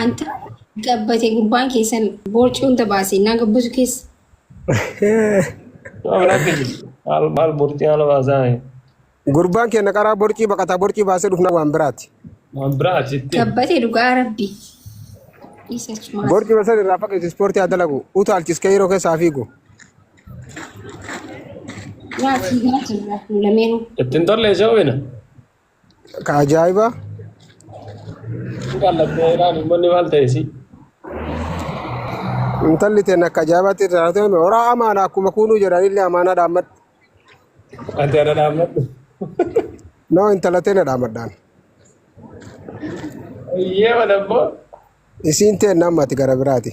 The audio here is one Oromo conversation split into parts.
Anta gabbate gubbaan keessan boorcii hunda baase naa gabbasu keessa. Waan akka jiru. Maal maal bortii haala baasaa mee. Gurbaan keenya qaraa borcii baqataa borcii baasee dhufna waan biraati. Waan biraa achitti. Gabbate dhugaa rabbi. Isa cimaa. Borcii basan irraa fageessi ispoortii haa dalagu. Utaalchis kee yeroo keessaa fiigu. Yaa fiigaa jirra nu lameenuu. Ittiin tollee shawwina. Ka ajaa'ibaa Kan lakkee ilaali uummanni maal ta'e si? intalli teen akka ajaa'ibaatti irraa haa ta'u horaa amaana akkuma kuunuu jedhan illee amaanaa dhaammadhu. Ati ana dhaammadhu. Noo intala teen dhaammadhaan. Iyyee mana immoo. Isiin teen namni ati gara biraati.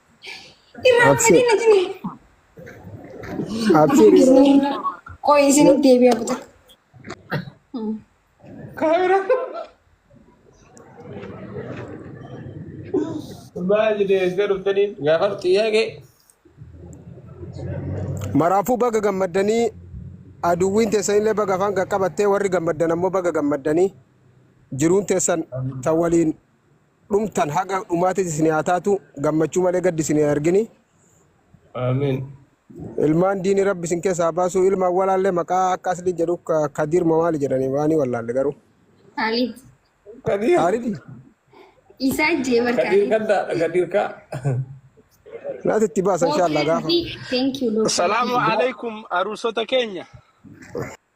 Imaan Absee. sadii natti ni. Absee Isinii- Qoy isinitti deebi'aa buta. Kaamera. Maal jedhee eesgaa dhuftanii gaafa xiyyaaqee. maraafuu baga gammaddanii aduwwiin teessan illee baga afaan qaqqabattee warri gammaddan ammoo baga gammaddanii jiruun teessan tan waliin dhumtan haga dhumaatis isin haa taatu gammachuu malee gaddi isin hin argini. Aamiin. Ilmaan diini rabbi isin keessa haa baasu ilmaan walaalle maqaa akka asli jedhu ka- kadiir moo maali jedhani waanii wallaalle garuu. Kaalid. Kadiir. Kaalidi Isaa jee Kadiir barkaadee. gaddaadha Kadiir kaa. naati itti baasa inshaallaa gaafa. Thank you Lord. Salaamu alaikum aruusota keenya.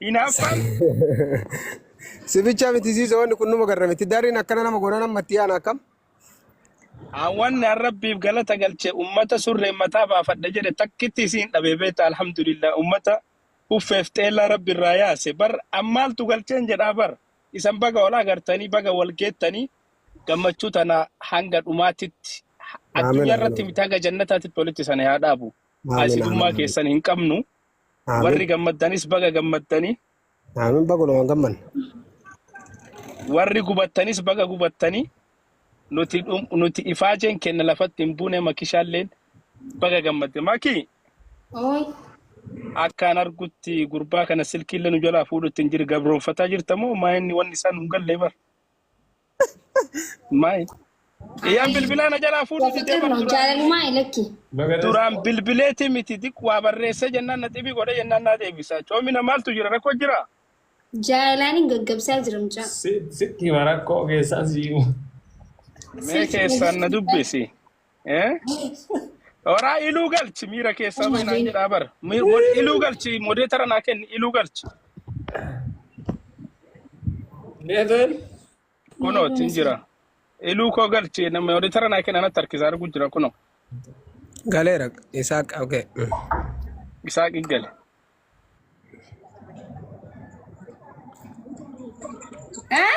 Hinaaffaan Si bicha miti siisa wanni kun numa garra miti. Dariin akkana nama goona nama itti yaana akkam. Wanni an rabbiif galata galche ummata surreen mataa baafadha jedhe takkitti isiin dhabee beekta alhamdulillah ummata uffeef xeellaa rabbi irraa yaase bar an maaltu galcheen jedhaa bar isan baga wal agartanii baga wal geettanii gammachuu tana hanga dhumaatitti ha- Aamin addunyaa irratti aamin. miti hanga jannataatitti walitti sana haa dhaabu Aamin aamin haasidummaa aamin. keessan hin qabnu Aamin. Warri gammaddanis baga gammaddanii. Aamin bagulumaan gammanne. Warri gubattanis baga gubattanii. Nuti dhum- nuti ifaajeen kenna lafatti hin buune makishaalleen baga gammadde. Makii Ooy. akkaan argutti gurbaa kana silkiillee nu jalaa fuudhutti hin jiru gabroonfataa jirta moo maa inni wanni isaan hin galle bar. Maay. Iyyaan Ay, bilbilaa na jalaa fuudhu Jaalalli didee bar turno, duraan jaalalumaa ilakki. Bagadesh. duraan bilbileeti miti xiqqoo waa barreessee jennaan na xibii godhe jennaan naa deebisa. Coomina maaltu jira rakkoo jira? Jaalalaan hin gaggabsaa jira mucaa. Si sitti hima rakkoo keessaa si hima. Mee Sirsi keessaan na dubbisi. Eh? Oraa iluu galchi miira keessaa bahi naan jedhaa bara. Mi- mod- Iluu galchi modeetara naa kenni iluu galchi. Neetuun Kunoo ittiin jira. Iluu koo galchi nama modeetara naa kenna natti harkisaa arguu jira kunoo. Galeera isaa okay. Isaa qiggale. Eh?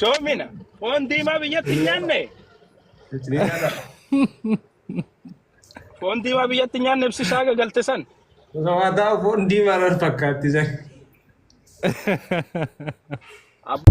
Coomina. Foon diimaa biyyatti hin nyaanne. Ni nyaata. Foon diimaa biyyatti hin nyaanne ibsi isaa gagalte san. Osoo waa taa'u foon diimaa irra fakkaatti san. Ab-